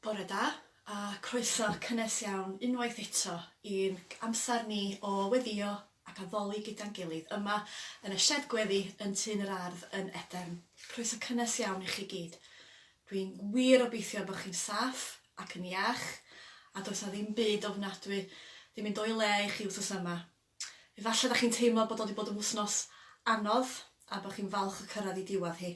Bore da, a croeso cynnes iawn unwaith eto i'n amser ni o weddïo ac addoli gyda'n gilydd yma yn y sied gweddi yn Tŷ yn yr Ardd yn Edern. Croeso cynnes iawn i chi gyd. Dwi'n wir obeithio bod chi'n saff ac yn iach, a does 'na ddim byd ofnadwy di mynd o'i le i chi wsos yma. Efallai da chi'n teimlo bod o di bod yn wsnos anodd a bod chi'n falch o cyrraedd i diwadd hi.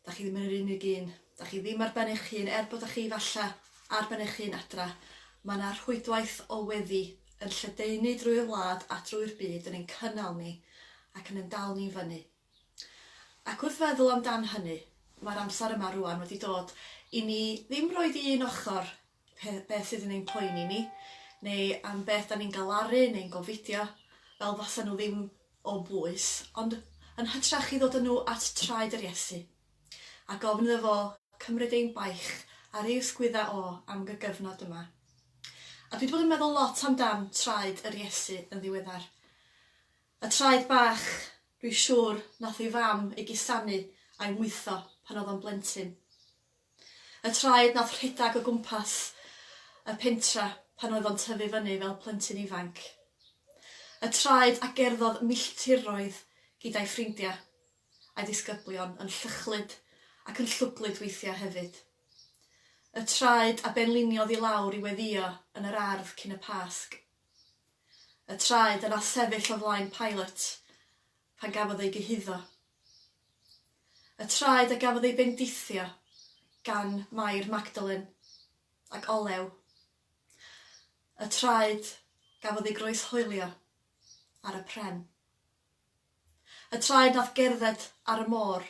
Da chi ddim yn yr unig un. Da chi ddim ar ben eich hun, er bod da chi falle ar ben eich hun adra. Mae yna rhwydwaith o weddi yn lledaenu drwy'r wlad a drwy'r byd yn ein cynnal ni ac yn ein dal ni i fyny. Ac wrth feddwl amdan hynny, mae'r amser yma rwan wedi dod i ni ddim roed i un ochr pe- beth sydd yn ein poeni ni neu am beth 'dan ni'n galaru neu'n gofidio, fel fasa nhw ddim o bwys, ond yn hytrach i ddod â nhw at traed yr Iesu, a gofyn iddo fo cymryd ein baich ar ei ysgwydda o am y gyfnod yma. A dwi wedi bod yn meddwl lot amdan traed yr Iesu yn ddiweddar. Y traed bach, dwi siŵr, nath ei fam ei gusanu a'i mwytho pan oedd o'n blentyn. Y traed nath rhedag o gwmpas y pentra pan oedd o'n tyfu fyny fel plentyn ifanc. Y traed a gerddodd milltiroedd gyda'i ffrindia, a'i ddisgyblion, yn llychlyd ac yn llwglyd weithia hefyd. Y traed a benliniodd i lawr i weddio yn yr ardd cyn y Pasg. Y traed a nath sefyll o flaen Pilate pan gafodd ei gyhuddo Y traed a gafodd ei bendithio gan Mair Magdalen ac olew y traed gafodd ei groeshoelio ar y pren. Y traed nath gerdded ar y môr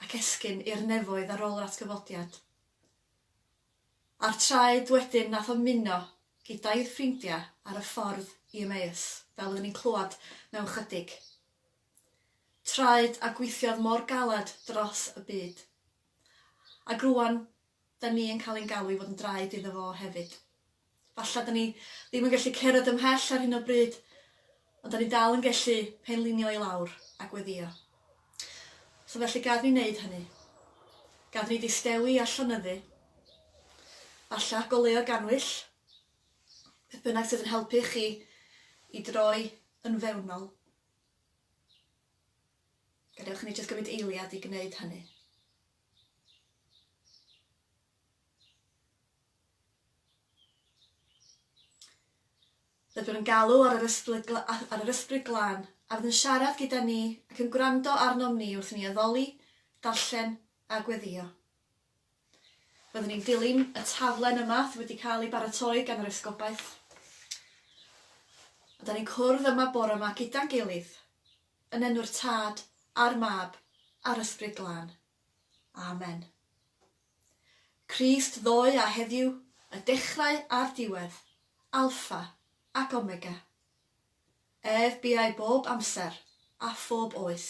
ac esgyn i'r nefoedd ar ôl yr atgyfodiad. A'r traed wedyn nath ymuno gyda'i ffrindia ar y ffordd i Emmaus, fel oedden ni'n clwad mewn chydig. traed a gweithiodd mor galed dros y byd. Ac rŵan, 'da ni yn cael ein galw i fod yn draed iddo fo hefyd. Falle 'da ni ddim yn gallu cerdded ymhell ar hyn o bryd, ond 'da ni dal yn gallu penlinio i lawr a gweddïo. So felly gad ni wneud hynny. Gad ni ddistewi a llonyddu. Falle goleuo gannwyll, beth bynnag sydd yn helpu chi i droi yn fewnol. Gadewch i ni jyst gymryd eiliad i gwneud hynny. Byddwn yn galw ar yr Ysbryd, ar yr Ysbryd Glân, a fydd yn siarad gyda ni ac yn gwrando arnom ni wrth i ni addoli, darllen a gweddio. Byddwn ni'n dilyn y taflen yma sydd wedi cael ei baratoi gan yr Esgobaeth. A da ni'n cwrdd yma bore yma gyda'n gilydd, yn enw'r Tad, a'r Mab, a'r Ysbryd Glân. Amen. Crist ddoe a heddiw, y dechrau a'r diwedd, Alfa ac Omega. Ef buai bob amser, a phob oes.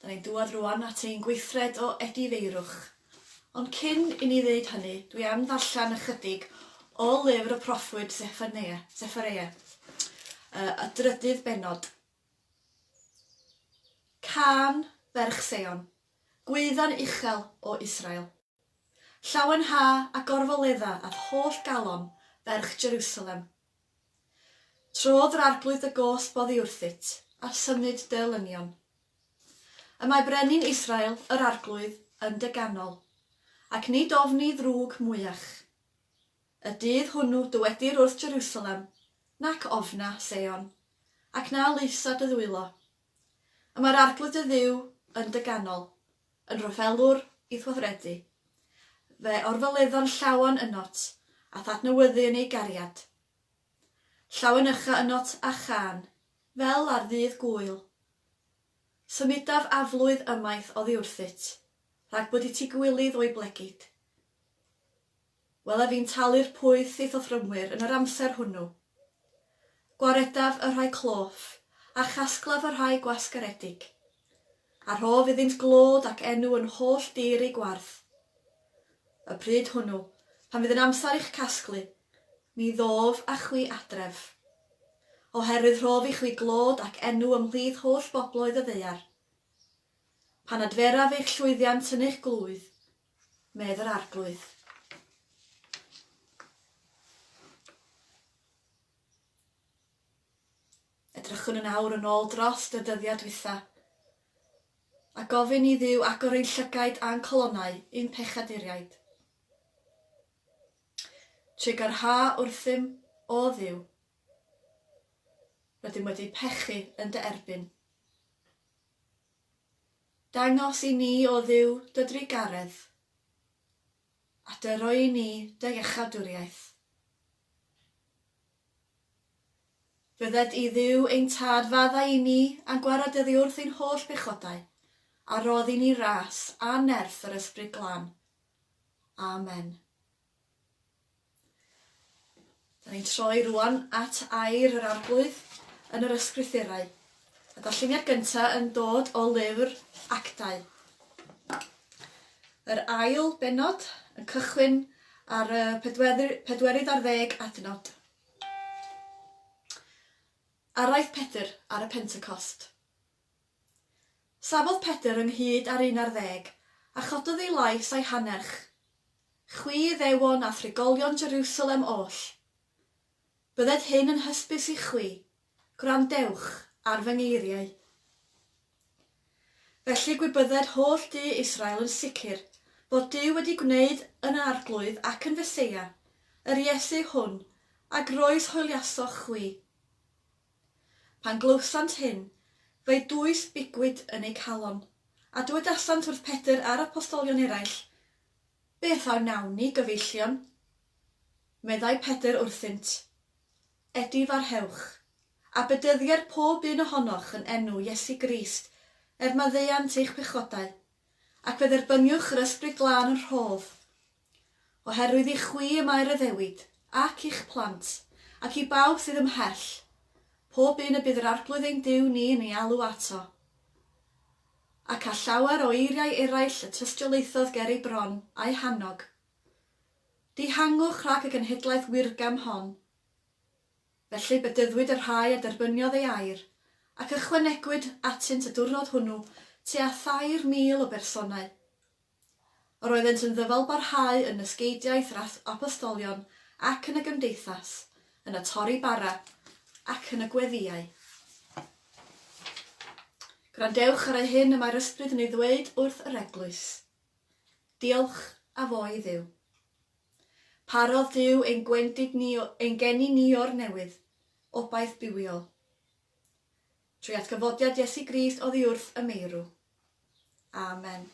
Da ni'n dŵad rŵan at ein gweithred o edifeirwch. Ond cyn i ni ddeud hynny, dwi am ddarllen ychydig o lyfr y proffwyd Sefania, Sefareia, y, y drydydd bennod. Cân ferch Seion, gwaeddan uchel o Israel. Llawen ha a gorfoledda a'th holl galon, ferch Jerusalem, Trodd yr Arglwydd dy goll boddi wrthyt, a symud dy olynion. Y mae brenin Israel, yr Arglwydd, yn dy ganol, ac nid ofni ddrwg mwyach. Y dydd hwnnw dywedir wrth Jerusalem, Nac ofna, Seion, ac na laesa dy ddwylo. Y mae'r Arglwydd dy Dduw yn dy ganol, Yn rhyfelwr ithweithredu. Fe orfoledda'n llawen ynot, a thadnewyddu yn ei gariad. Llawen ycha ynot a chân, fel ar ddydd Gŵyl. Symudaf aflwydd ymaith oddi wrthyt, rhag bod i ti gwilydd o'i blegid. Wel, a fi'n talu'r pwyth i'th offrymwyr yn yr amser hwnnw. Gwaredaf y rhai cloff, a chasglaf y rhai gwasgaredig. A rhof iddynt glod ac enw yn holl dir eu gwarth. Y pryd hwnnw, pan fydd yn amser i'ch casglu, mi ddof â chwi adref. Oherwydd rhof i chwi glod ac enw ymhlith holl bobloedd y ddaear. Pan adferaf eich llwyddiant yn eich glwydd, medd yr Arglwydd. Edrychwn yn awr yn ôl dros y dyddiad dwytha, a gofyn i ddiw agor ein llygaid a'n colonau i'n pechaduriaid. Tregarha wrthym, o ddiw. Rydym wedi pechu yn dy erbyn. Dangos i ni, O Dduw, dy drugaredd, a dy roi i ni dy iachadwriaeth. Fyddet i, Dduw, ein Tad, faddau i ni a gwared oddi wrth ein holl bechodau, a rhodd i ni ras a nerth yr Ysbryd Glân. Amen. Da ni'n troi rŵan at air yr Arglwydd yn yr Ysgrythurau. Y darlleniad gyntaf yn dod o lyfr Actau. Yr ail benod yn cychwyn ar y pedwerydd ar ddeg adnod. Araith Pedr ar y Pentecost. Safodd Pedr ynghyd â'r un ar ddeg, a chododd ei lais a'i hanerch, Chwi, Iddewon a thrigolion Jerusalem oll, bydded hyn yn hysbys i chwi, gwrandewch ar fy ngeiriau. Felly gwybydded holl du Israel yn sicr fod Duw wedi gwneud yn yr Arglwydd ac yn Feseia, yr Iesu hwn a groes hwyliasoch chwi. Pan glywsant hyn, fe'i dwys bigwyd yn eu calon, a dywedasant wrth Pedr a'r apostolion eraill, Beth a wnawn ni, gyfeillion? Meddai Pedr wrthynt, Edi farhewch, a bedyddier pob un ohonoch yn enw Iesu Grist, er maddeuant eich pechodau, ac fe dderbyniwch yr Ysbryd Glân yn rhodd. Oherwydd i chwi y mae'r addewid, ac i'ch plant, ac i bawb sydd ymhell, pob un y bydd yr Arglwydd ein Duw ni yn ei alw ato. Ac a llawer o eiriau eraill y tystiolaethodd ger ei bron, a'i hannog. Dihangwch rhag y genhedlaeth wirgam hon. Felly bedyddwyd y rhai a derbyniodd ei air, ac ychwanegwyd atynt y diwrnod hwnnw tua thair mil o bersonau, Yr oeddent yn ddyfalbarhau yn nysgeidiaeth yr apostolion ac yn y gymdeithas, yn y torri bara ac yn y gweddïau. Gwrandewch ar eu hyn y mae'r ysbryd yn ei ddweud wrth yr eglwys. Diolch a fo i Dduw. Parodd Duw ein gwendid ni, ein geni ni o'r newydd, obaith bywiol. Trwy atgyfodiad Iesu Grist oddiwrth y meirw. Amen.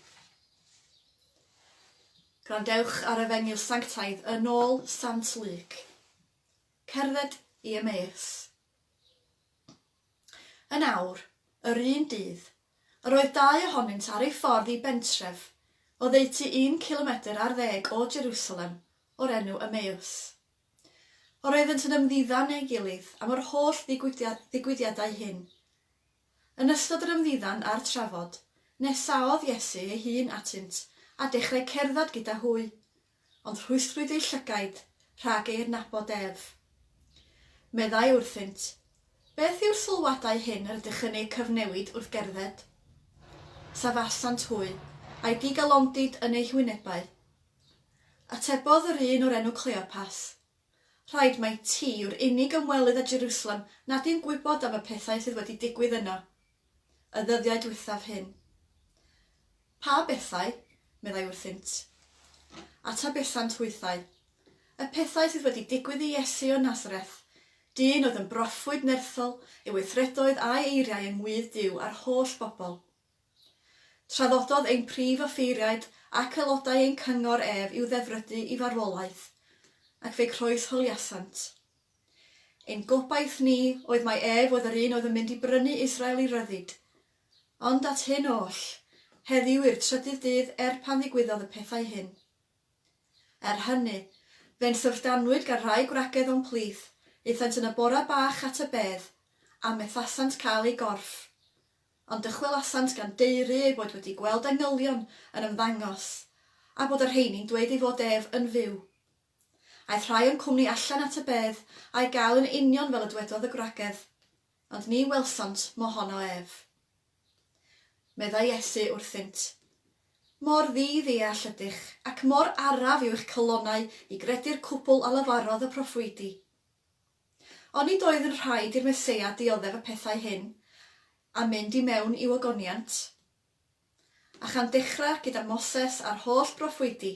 Gwrandewch ar Efengyl Sanctaidd yn ôl Sant Luc. Cerdded i Emmaus. Yn awr, yr un dydd, yr oedd dau ohonynt ar ei ffordd i bentref oddeutu un cilomedr ar ddeg o Jerusalem o'r enw Emmaus. Yr oeddynt yn ymddiddan ei gilydd am yr holl ddigwyddiadau hyn. Yn ystod yr ymddiddan a'r trafod, nesaodd Iesu ei hun atynt a dechrau cerdded gyda hwy, ond rhwystrwyd eu llygaid rhag ei adnabod ef. Meddai wrthynt, Beth yw'r sylwadau hyn yr ydych yn eu cyfnewid wrth gerdded? Safasant hwy, a'i digalondid yn eu hwynebau. Atebodd yr un o'r enw Cleopas, Rhaid mai ti yw'r unig ymwelydd â Jerusalem nad yw'n gwybod am y pethau sydd wedi digwydd yno, y ddyddiau diwethaf hyn. Pa bethau? meddai wrthynt. Atabesant hwythau, Y pethau sydd wedi digwydd i Iesu o Nazareth, dyn oedd yn broffwyd nerthol ei weithredoedd a'i eiriau yng ngwydd Duw a'r holl bobl. Traddododd ein prif offeiriaid ac aelodau ein cyngor ef i'w ddefrydu i farwolaeth, ac fe'i croeshoeliasant. Ein gobaith ni oedd mai ef oedd yr un oedd yn mynd i brynu Israel i ryddid. Ond at hyn oll, heddiw yw'r trydydd dydd er pan ddigwyddodd y pethau hyn. Er hynny, fe'n syfrdanwyd gan rai gwragedd o'n plith, aethant yn y bora bach at y bedd, a methasant cael ei gorff. ond dychwelasant gan daeru eu bod wedi gweld angylion yn ymddangos, a bod y rheini'n dweud ei fod ef yn fyw. Aeth rhai o'n cwmni allan at y bedd a'i gael yn union fel y dwedodd y gwragedd, ond ni welsant mo honno ef. Meddai Iesu wrthynt, Mor ddi-ddeall ydych, ac mor araf yw eich calonnau i gredu'r cwbl a lefarodd y proffwydi! Ond nid oedd yn rhaid i'r Meseia dioddef y pethau hyn a mynd i mewn i'w ogoniant. A chan dechrau gyda Moses a'r holl broffwydi,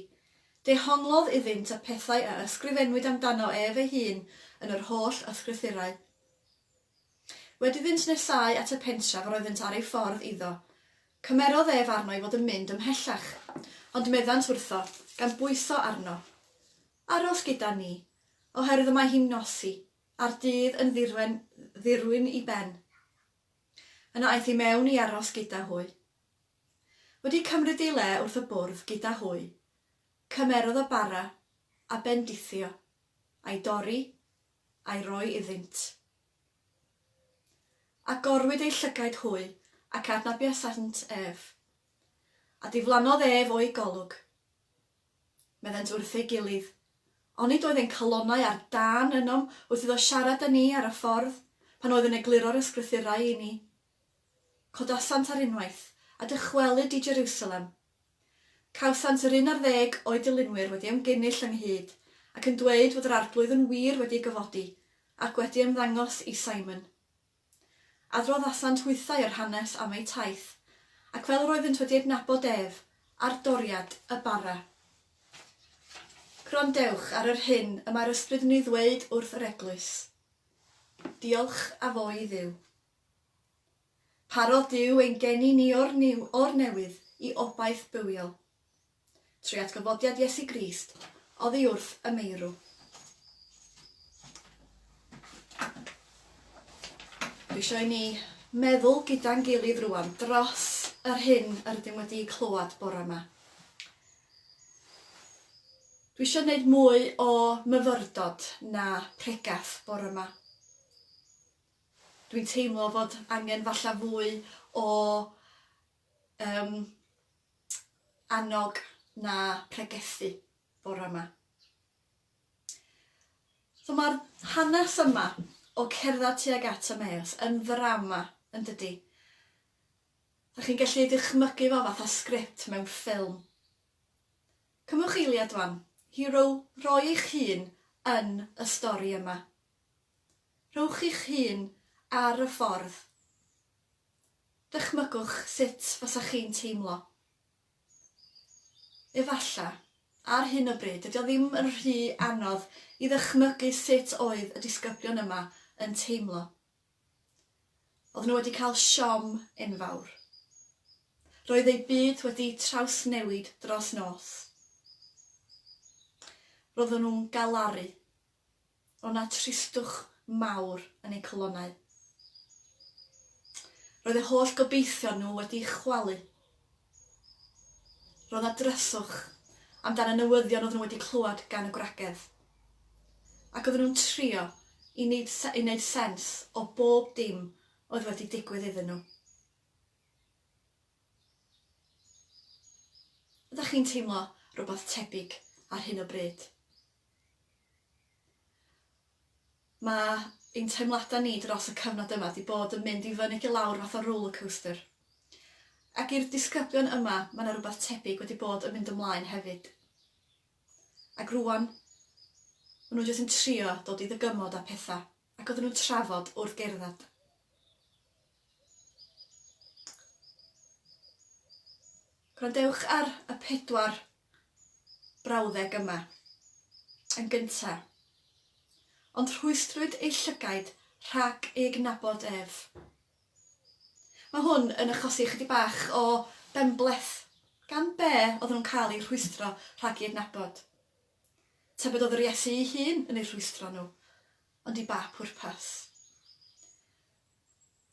dehonglodd iddynt y pethau a ysgrifennwyd amdano ef ei hun yn yr holl Ysgrythurau. Wedi iddynt nesáu at y pentref yr oeddynt ar ei ffordd iddo, cymerodd ef arno i fod yn mynd ymhellach, ond meddant wrtho, gan bwyso arno, Aros gyda ni, oherwydd y mae hi'n nosi, a'r dydd yn ddirwen ddirwyn i ben. Yna aeth i mewn i aros gyda hwy. Wedi cymryd ei le wrth y bwrdd gyda hwy, cymerodd y bara, a bendithio, a'i dorri, a'i roi iddynt. Agorwyd eu llygaid hwy, ac adnabiasant ef. A diflannodd ef o'i golwg. Meddent wrth ei gilydd. Onid oedd ein calonnau ar dân ynom wrth iddo siarad â ni ar y ffordd, pan oedd yn egluro'r Ysgrythurau i ni? Codasant ar unwaith, a dychwelyd i Jerusalem. Cawsant yr un ar ddeg o'i dilynwyr wedi ymgynnull ynghyd, ac yn dweud fod yr Arglwydd yn wir wedi ei gyfodi, ac wedi ymddangos i Simon. Adroddasant hwythau yr hanes am eu taith, ac fel yr oeddynt wedi adnabod ef, ar doriad y bara. Gwrandewch ar yr hyn y mae'r Ysbryd yn ei ddweud wrth yr Eglwys. Diolch a fo i Dduw. Parodd Duw ein geni ni o'r niw, o'r newydd, i obaith bywiol. trwy atgyfodiad Iesu Grist oddi wrth y meirw. Dwi eisiau i ni meddwl gyda'n gilydd rwan dros yr hyn yr ydym wedi clywed bore yma. Dwi eisiau gwneud mwy o myfyrdod na pregeth bore yma. Dwi'n teimlo fod angen falle fwy o Yym, annog na pregethu bore yma. So mae'r hanes yma o cerdded tuag at Emmaus yn ddrama, yn dydy? Ydych chi'n gallu dychmygu fo fatha sgript mewn ffilm? Cymwch eiliad wan hi row, roi eich hun yn y stori yma. Rhowch eich hun ar y ffordd Dychmygwch sut fasach chi'n teimlo. Efalla, ar hyn o bryd, dydy o ddim yn rhy anodd i ddychmygu sut oedd y disgyblion yma yn teimlo. Oedden nhw wedi cael siom enfawr. Roedd eu byd wedi trawsnewid dros nos. Roedden nhw'n galaru. Roedd yna tristwch mawr yn eu calonnau. Roedd eu holl gobeithion nhw wedi chwalu. Roedd yna dryswch amdan y newyddion oedden nhw wedi clywed gan y gwragedd. Ac oedden nhw'n trio i wneud, i wneud sens o bob dim oedd wedi digwydd iddyn nhw. Ydych chi'n teimlo rhywbeth tebyg ar hyn o bryd? Mae ein teimladau ni dros y cyfnod yma 'di bod yn mynd i fyny ac i lawr fath o rollercoaster. Ac i'r disgyblion yma mae 'na rywbeth tebyg wedi bod yn mynd ymlaen hefyd. Ac rŵan ma' nhw jyst yn trio dod i ddygymod â pethau ac oedden nhw'n trafod wrth gerdded. Gwrandewch ar y pedwar brawddeg yma, yn gynta'. Ond rhwystrwyd ei llygaid rhag ei gydnabod ef. Mae hwn yn achosi ychydig bach o benbleth gan be' oedden nhw'n cael eu rhwystro rhag ei adnabod. Tybed oedd yr Iesu ei hun yn eu rhwystro nhw, ond i ba phwrpas?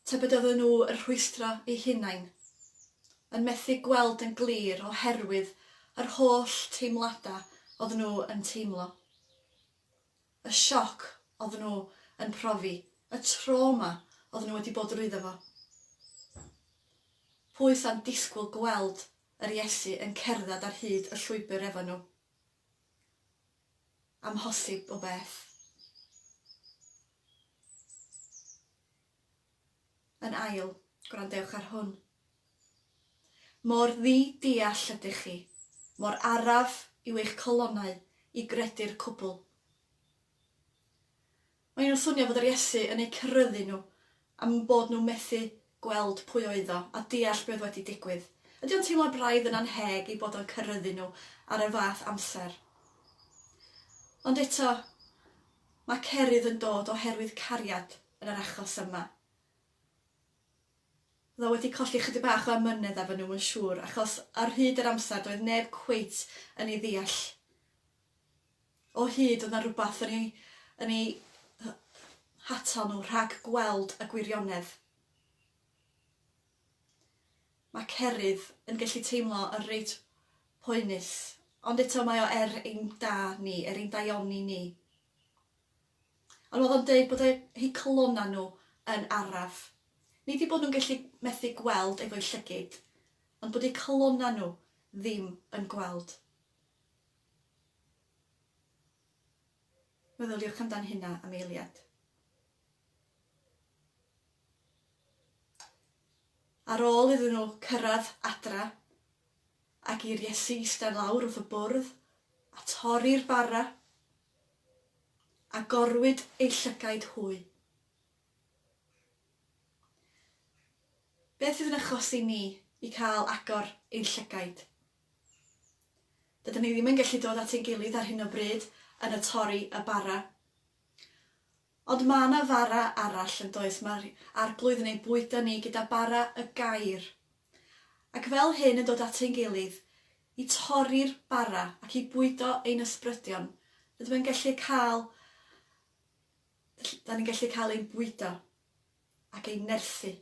Tybed oedden nhw yn rhwystro eu hunain, yn methu gweld yn glir oherwydd yr holl teimladau oedden nhw yn teimlo? Y sioc oedden nhw yn profi, y trawma oedden nhw wedi bod drwyddo fo? Pwy sa'n disgwyl gweld yr Iesu yn cerdded ar hyd y llwybr efo nhw? Amhosib o beth. Yn ail, gwrandewch ar hwn. Mor ddi-deall ydych chi, mor araf yw eich colonnau i gredu'r cwbl. Maen nhw'n swnio fod yr Iesu yn eu cyryddu nhw am bod nhw methu gweld pwy oedd o a deall be oedd wedi digwydd. Ydy o'n teimlo braidd yn annheg ei bod o'n cyryddu nhw ar y fath amser? Ond eto, mae cerydd yn dod oherwydd cariad yn yr achos yma. Oedd o wedi colli ychydig bach o amynedd efo nhw, yn siŵr, achos ar hyd yr amser doedd neb cweit yn ei ddeall O hyd oedd 'na rywbeth yn eu yn eu hatal nhw rhag gweld y gwirionedd. Mae Cerydd yn gallu teimlo yn reit poenus, ond eto mae o er ein da ni, er ein daioni ni. Ond oedd o'n deud bod eu calonnau nhw yn araf. Nid eu bod nhw'n gallu methu gweld efo'u llygid, ond bod eu calonnau nhw ddim yn gweld. Meddyliwch amdan hynna am eiliad. Ar ôl iddyn nhw cyrraedd adra, ac i'r Iesu eistedd lawr wrth y bwrdd, a torri'r bara, agorwyd eu llygaid hwy. Beth fydd yn achosi ni i cael agor ein llygaid? Dydyn ni ddim yn gallu dod at ein gilydd ar hyn o bryd yn y torri y bara. Ond mae yna fara arall, yn does, mae'r Arglwydd yn ein bwydo ni gyda bara y gair. Ac fel hyn yn dod at ein gilydd, i torri'r bara ac i bwydo ein ysbrydion, rydym yn gallu cael, da ni'n gallu cael ein bwydo. ac ei nerthu.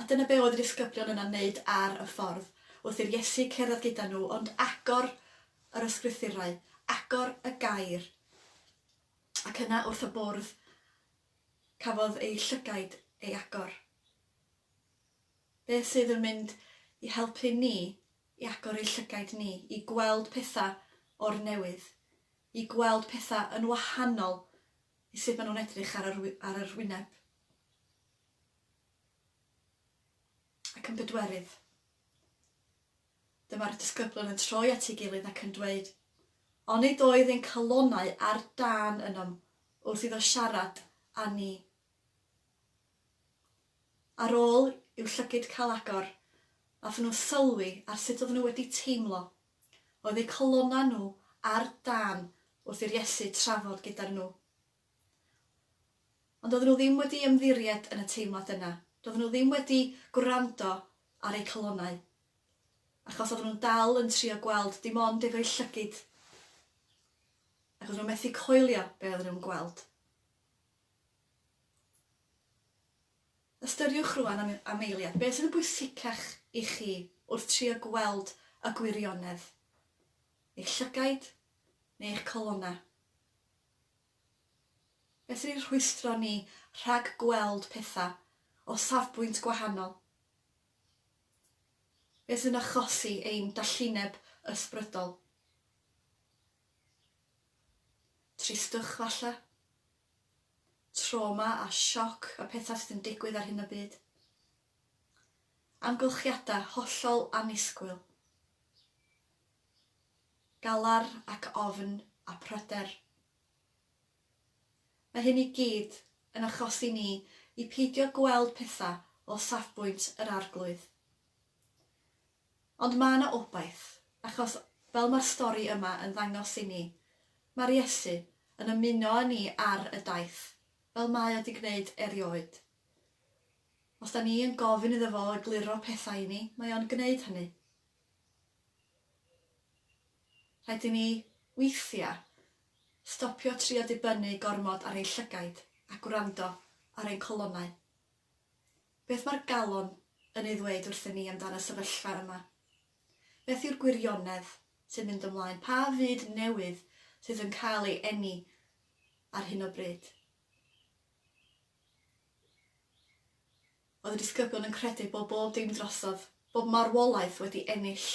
A dyna be oedd y disgyblion yna'n wneud ar y ffordd, wrth i'r Iesu cerdded gyda nhw, ond agor yr Ysgrythurau, agor y Gair. Ac yna wrth y bwrdd, cafodd eu llygaid ei agor. Beth sydd yn mynd i helpu ni i agor ei llygaid ni, i gweld pethau o'r newydd, i gweld pethau yn wahanol i sut maen nhw'n edrych ar yr, ar yr wyneb? Ac yn bedwerydd, dyma'r disgyblwyr yn troi at ei gilydd ac yn dweud, Onid oedd ein calonnau ar dân ynom wrth iddo siarad â ni? Ar ôl i'w llygid cael agor, nathon nhw sylwi ar sut oedden nhw wedi teimlo. Oedd eu calonnau nhw ar dân wrth i'r Iesu trafod gyda nhw. Ond doedden nhw ddim wedi ymddiried yn y teimlad yna. Doedden nhw ddim wedi gwrando ar eu calonnau. Achos oedden nhw'n dal yn trio gweld dim ond efo'u llygid. Ac oedden nhw methu coelio be oedden nhw'n gweld. Ystyriwch rwan am, am eiliad, beth sydd yn bwysicach i chi wrth trio gweld y gwirionedd? Eich llygaid neu eich calonnau? Felly rhwystro ni rhag gweld pethau o safbwynt gwahanol, beth sy'n achosi ein dallineb ysbrydol? Tristwch falle? Trawma a sioc y pethau sydd yn digwydd ar hyn o bryd? Amgylchiadau hollol annisgwyl? galar ac ofn a pryder. Mae hyn i gyd yn achosi ni i peidio gweld pethau o safbwynt yr Arglwydd. Ond mae yna obaith, achos, fel mae'r stori yma yn ddangos i ni, mae'r Iesu yn ymuno â ni ar y daith, fel mae o 'di gwneud erioed. Os 'da ni yn gofyn iddo fo egluro pethau i ni, mae o'n gwneud hynny. Rhaid i ni, weithiau, stopio trio dibynnu gormod ar ein llygaid a gwrando ar ein colonnau. Beth mae'r galon yn ei ddweud wrthyn ni amdan y sefyllfa yma? Beth yw'r gwirionedd sy'n mynd ymlaen? Pa fyd newydd sydd yn cael ei eni ar hyn o bryd? oedd y disgyblion yn credu bod bob dim drosodd, bod marwolaeth wedi ennill,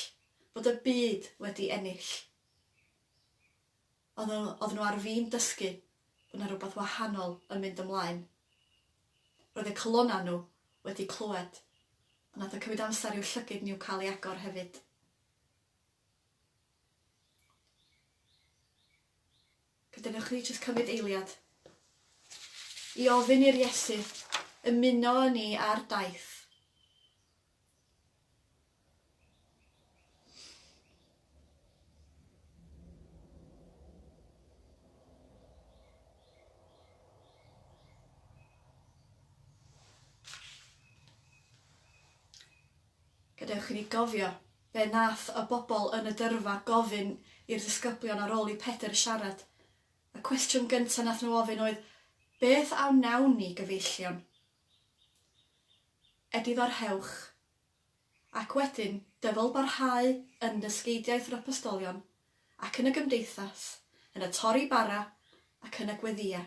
bod y byd wedi ennill. Ond oedden nhw ar fin dysgu bod 'na rywbeth wahanol yn mynd ymlaen. Roedd eu calonnau nhw wedi clywed, ond nath o cymryd amser i'w llygid nhw cael ei agor hefyd. Gadewch ni jyst cymryd eiliad i ofyn i'r Iesu ymuno â ni ar daith. Gadewch i ni gofio Fe wnaeth y bobl yn y gyrfa gofyn i'r ddisgyblion ar ôl i Pedr siarad. Y cwestiwn gyntaf wnaeth nhw ofyn oedd, Beth a wnawn ni, gyfeillion? Edifeirhewch. Ac wedyn, dyfalbarhau yn dysgeidiaeth yr apostolion, ac yn y gymdeithas, yn y torri bara, ac yn y gweddïau.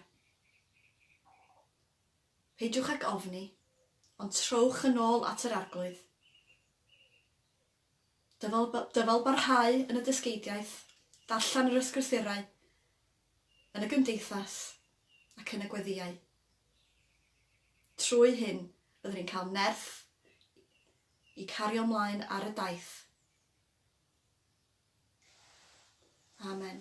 Peidiwch ag ofni, ond trowch yn ôl at yr Arglwydd. Dyfal, dyfal barhau yn y dysgeidiaeth, darllen yr ysgrythurau, yn y gymdeithas ac yn y gweddïau. Trwy hyn, byddwn ni'n cael nerth i cario mlaen ar y daith. Amen.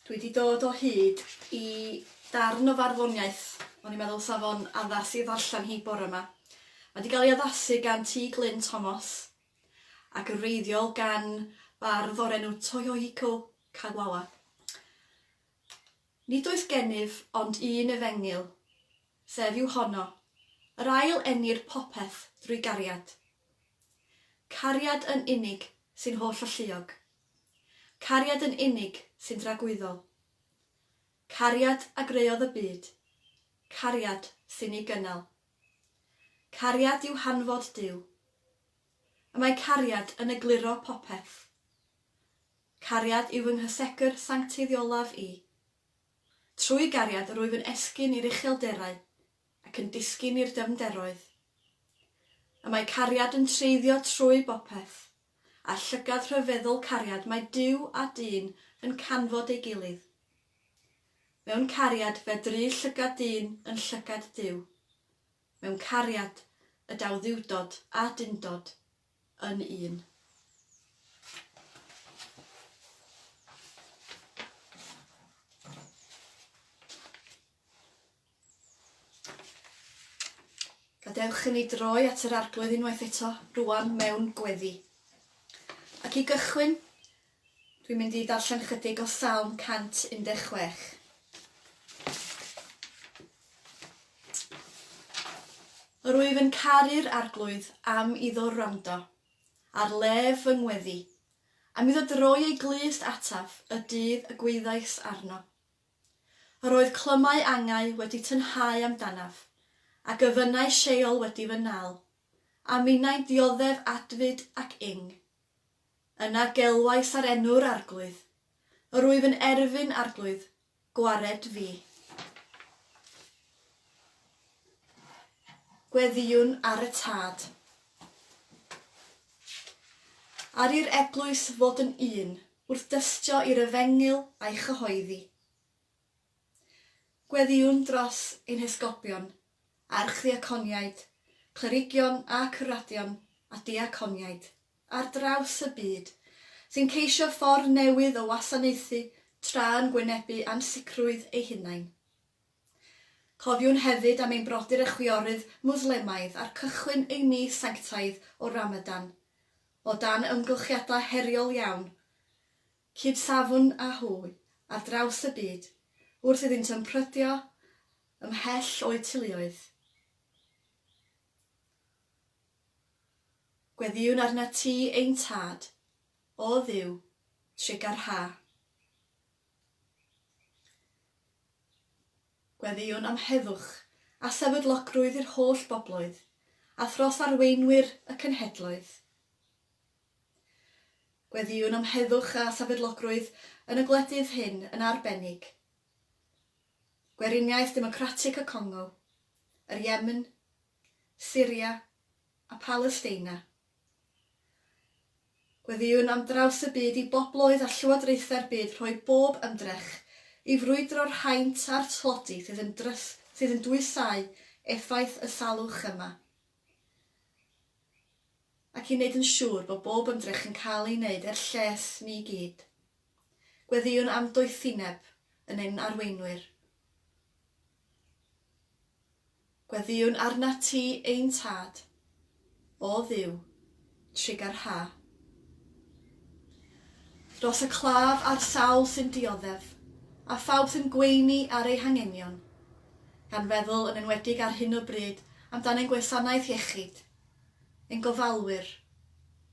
Dwi wedi dod o hyd i darn o farddoniaeth. O'n i'n meddwl sa fo'n addas i ddarllen hi bore yma. Mae wedi cael ei addasu gan T Glyn Thomas ac yn reiddiol gan bardd o'r enw Toyohiko Kagawa. Nid oes gennyf ond un efengyl, sef yw honno, yr ail enir popeth drwy gariad. Cariad yn unig sy'n holl-alluog. Cariad yn unig sy'n dragwyddol. Cariad a greuodd y byd. Cariad sy'n ei gynnal. Cariad yw hanfod Duw. Y mae cariad yn egluro popeth. Cariad yw fy nghysegr sanctaidd olaf i. Trwy gariad rwyf yn esgyn i'r uchelderau ac yn disgyn i'r dyfnderoedd. Y mae cariad yn treiddio trwy bopeth, a llygad rhyfeddol cariad mae Duw a dyn yn canfod ei gilydd. Mewn cariad fedru llygad dyn yn llygad Duw. mewn cariad y daw dduwdod a dundod yn un. Gadewch i ni droi at yr arglwydd unwaith eto, rwan mewn gweddi. Ac i gychwyn, Dwi'n mynd i darllen ychydig o Salm 116. Yr wyf yn caru'r Arglwydd am iddo wrando ar lef fy ngweddi, am iddo droi ei glust ataf y dydd y gwyddais arno. Yr oedd clymau angau wedi tynhau amdanaf, a gyfynnau Sheol wedi fy nal, a minnau'n dioddef adfyd ac ing. Yna gelwais ar enw'r Arglwydd. Yr wyf yn erfyn, Arglwydd, gwared fi. Gweddïwn ar y Tad. Ar i'r eglwys fod yn un, wrth dystio i'r efengyl a'i chyhoeddi. Gweddïwn dros ein hesgobion, archddiaconiaid, clerigion a cyrradion a diaconiaid ar draws y byd sy'n ceisio ffordd newydd o wasanaethu tra'n gwynebu ansicrwydd eu hunain. Cofiwn hefyd am ein brodyr a chwiorydd Mwslemaidd ar cychwyn eu mis sanctaidd o Ramadan, o dan ymgylchiadau heriol iawn, cyd-safwn â hwy ar draws y byd wrth iddynt ymprydio ymhell o'u teuluoedd, gweddïwn arnat ti, ein Tad, o Dduw, trugarhau. Gweddïwn am heddwch a sefydlogrwydd i'r holl bobloedd, a thros arweinwyr y cenhedloedd. Gweddïwn am heddwch a safeddlogrwydd yn y gwledydd hyn yn arbennig, Gweriniaeth Democratic y Congo, yr Yemen, Syria a Palesteina. Gweddïwn am draws y byd i bobloedd a llywodraethau'r byd rhoi bob ymdrech i frwydro'r haint a'r tlodi sydd yn dwysau effaith y salwch yma. ac i wneud yn siŵr bod bob ymdrech yn cael ei wneud er lles ni i gyd. Gweddïwn am doethineb yn ein arweinwyr. Gweddïwn arnat ti, ein Tad, o Dduw, Trigger Hair. Dros y claf a'r sawl sy'n dioddef, a phawb sy'n gweini ar eu hangenion, gan feddwl yn enwedig ar hyn o bryd amdan ein gwasanaeth iechyd, ein gofalwyr,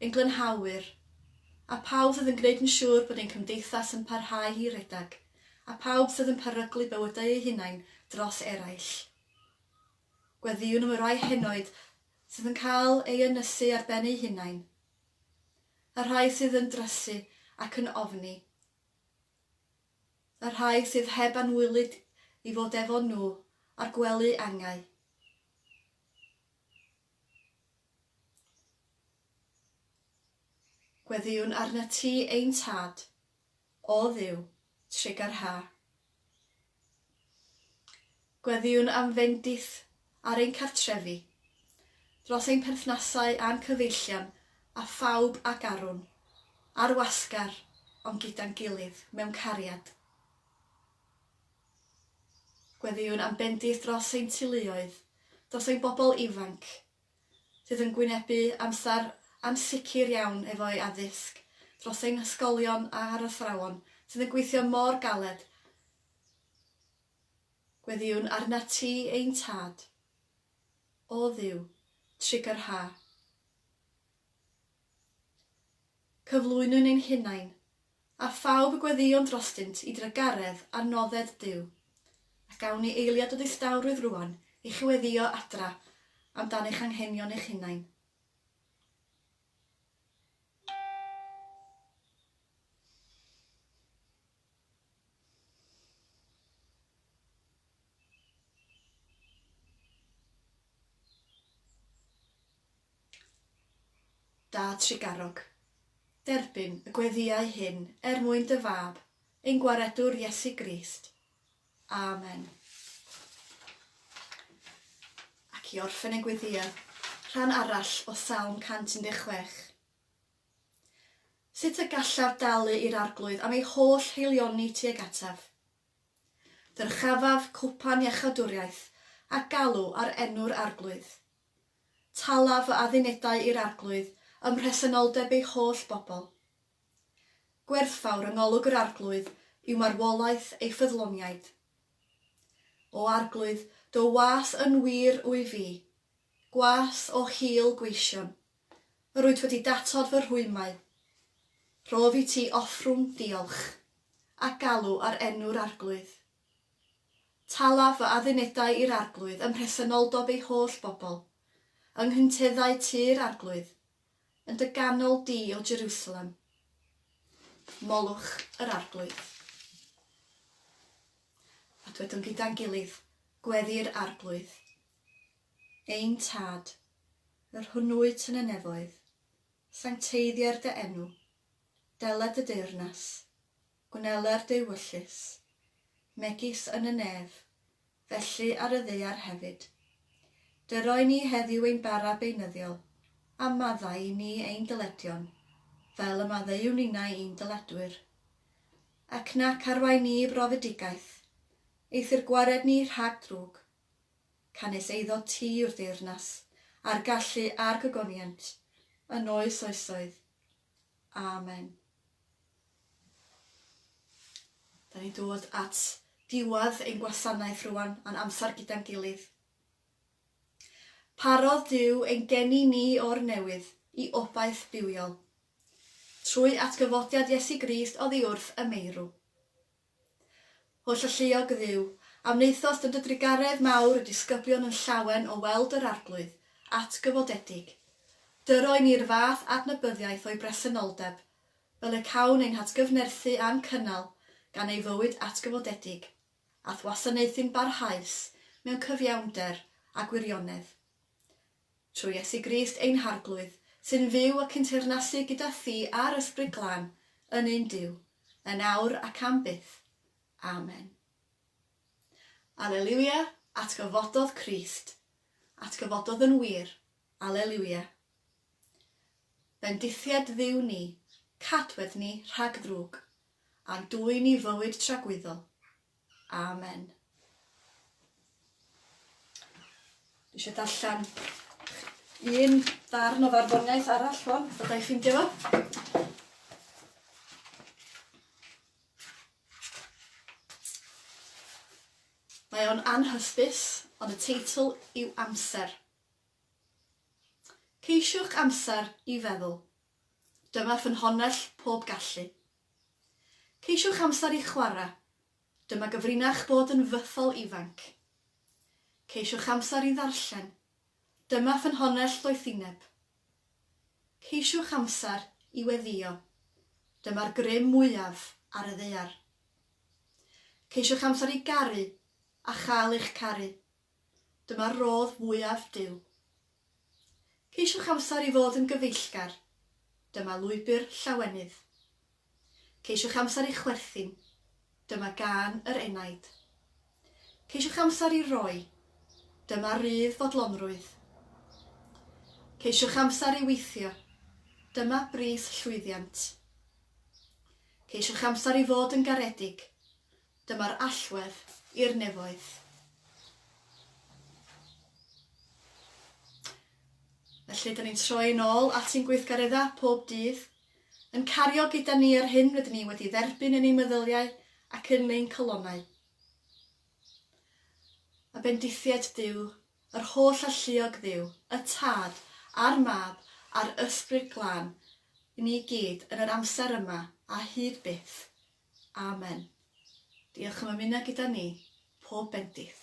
ein glynhawyr, a phawb sydd yn gwneud yn siŵr bod ein cymdeithas yn parhau i redeg, a phawb sydd yn peryglu bywydau eu hunain dros eraill. Gweddïwn am y rhai henoed sydd yn cael ei ynysu ar ben eu hunain, y rhai sydd yn drysu ac yn ofni, y rhai sydd heb anwylyd i fod efo nhw a'r gwely angau. Gweddïwn arnat ti, ein Tad, O Dduw, trig ar ha. Gweddïwn am fendith ar ein cartrefi, dros ein perthnasau a'n cyfeillion a phawb ac arwn, ar wasgar, ond gyda'n gilydd, mewn cariad. Gweddïwn am bendith dros ein teuluoedd, dros ein bobl ifanc, sydd yn gwynebu amser ansicr iawn efo'i addysg, dros ein hysgolion a'r athrawon sydd yn gweithio mor galed, gweddïwn arnat ti ein Tad, O Dduw, trigger ha. Cyflwynwn ein hunain, A phawb y gweddïon drostynt i drugaredd ar nodded Duw. Ac awn ni eiliad o ddistawrwydd rŵan i chi weddïo adra am dan eich anghenion eich hunain. Da Tregarog. Derbyn y gweddïau hyn er mwyn dy Fab, ein Gwaredwr Iesu Grist. Amen. Ac i orffen ein gweddïau, rhan arall o Salm 116. Sut y gallaf dalu i'r Arglwydd am ei holl haelioni tuag ataf? Dyrchafaf cwpan iachawdwriaeth a galw ar enw'r Arglwydd. Tala fy addunedau i'r Arglwydd ym mhresenoldeb ei holl bobl. Gwerthfawr yng ngolwg yr Arglwydd yw marwolaeth ei ffyddloniaid. O Arglwydd, dy was yn wir wy fi, gwas o hil gweision. Rwyt wedi datod fy rhwymau. Rhof i ti offrwm diolch, a galw ar enw'r Arglwydd. Talaf fy addunedau i'r Arglwydd ym mhresenoldeb ei holl bobl, yng nghyntedau tŷ'r Arglwydd, yn dy ganol di, O Jerusalem. Molwch yr Arglwydd. A dywedwn gyda'n gilydd, Gweddï'r Arglwydd. ein Tad, yr hwn wyt yn y nefoedd, sancteiddier dy enw, dela dy deyrnas, gwneler dy wyllys, megis yn y nef, felly ar y ddaear hefyd. Dyro i ni heddiw ein bara beunyddiol, a maddau i ni ein dyledion, fel y maddeuwn ninnau i'n dyledwyr. Ac nac arwain ni i brofedigaeth, eithr gwared ni rhag drwg, canys eiddo ti yw'r deyrnas, a'r gallu a'r gogoniant, yn oes oesoedd. Amen. Da ni'n dod at diwadd ein gwasanaeth rwan a'n amser gyda'n gilydd. Parodd Dyw ein geni ni o'r newydd i obaith bywiol. Trwy atgyfodiad Iesu Grist oddi wrth y meirw. Holl alluog Dduw, a wnaethost yn dy drugaredd mawr y disgyblion yn llawen o weld yr Arglwydd, atgyfodedig. Dyro i ni'r fath adnabyddiaeth o'i bresenoldeb, fel y cawn ein hatgyfnerthu a'n cynnal gan ei fywyd atgyfodedig, a'th wasanaethu'n barhaus mewn cyfiawnder a gwirionedd. Trwy Iesu Grist ein Harglwydd, sy'n fyw ac yn teyrnasu gyda Thi a'r Ysbryd Glân, yn un Duw, yn awr ac am byth. Amen. Aleliwia, atgyfododd Crist. Atgyfododd yn wir. Aleliwia. Bendithiad Dduw ni, cadwedd ni rhag ddrwg, a'n dwyn ni fywyd tragwyddol. Amen. Dwi eisiau darllen un darn o farddoniaeth arall hwn, bod i'n ffeindio fo. Mae o'n anhysbys, ond y teitl yw Amser. Ceisiwch amser i feddwl. Dyma ffynhonnell pob gallu. Ceisiwch amser i chwarae. Dyma gyfrinach bod yn fythol ifanc. Ceisiwch amser i ddarllen. Dyma ffynhonnell ddoethineb. Ceisiwch amser i weddïo. Dyma'r grym mwyaf ar y ddaear. Ceisiwch amser i garu a chael eich caru. Dyma'r rhodd fwyaf Duw. Ceisiwch amser i fod yn gyfeillgar. Dyma lwybr llawenydd. Ceisiwch amser i chwerthin. Dyma gân yr enaid. Ceisiwch amser i roi. Dyma rydd fodlonrwydd. Ceisiwch amser i weithio. Dyma bris llwyddiant. Ceisiwch amser i fod yn garedig. Dyma'r allwedd i'r nefoedd. Felly, dyn ni'n troi yn ôl at ein gweithgareddau pob dydd, yn cario gyda ni yr hyn rydyn ni wedi dderbyn yn ein meddyliau ac yn ein calonnau. A bendithiaid Duw, yr holl alluog Dduw, y Tad, a'r Mab, a'r Ysbryd Glân, i ni gyd yn yr amser yma a hyd byth. Amen. Diolch am ymuno gyda ni, pob bendith.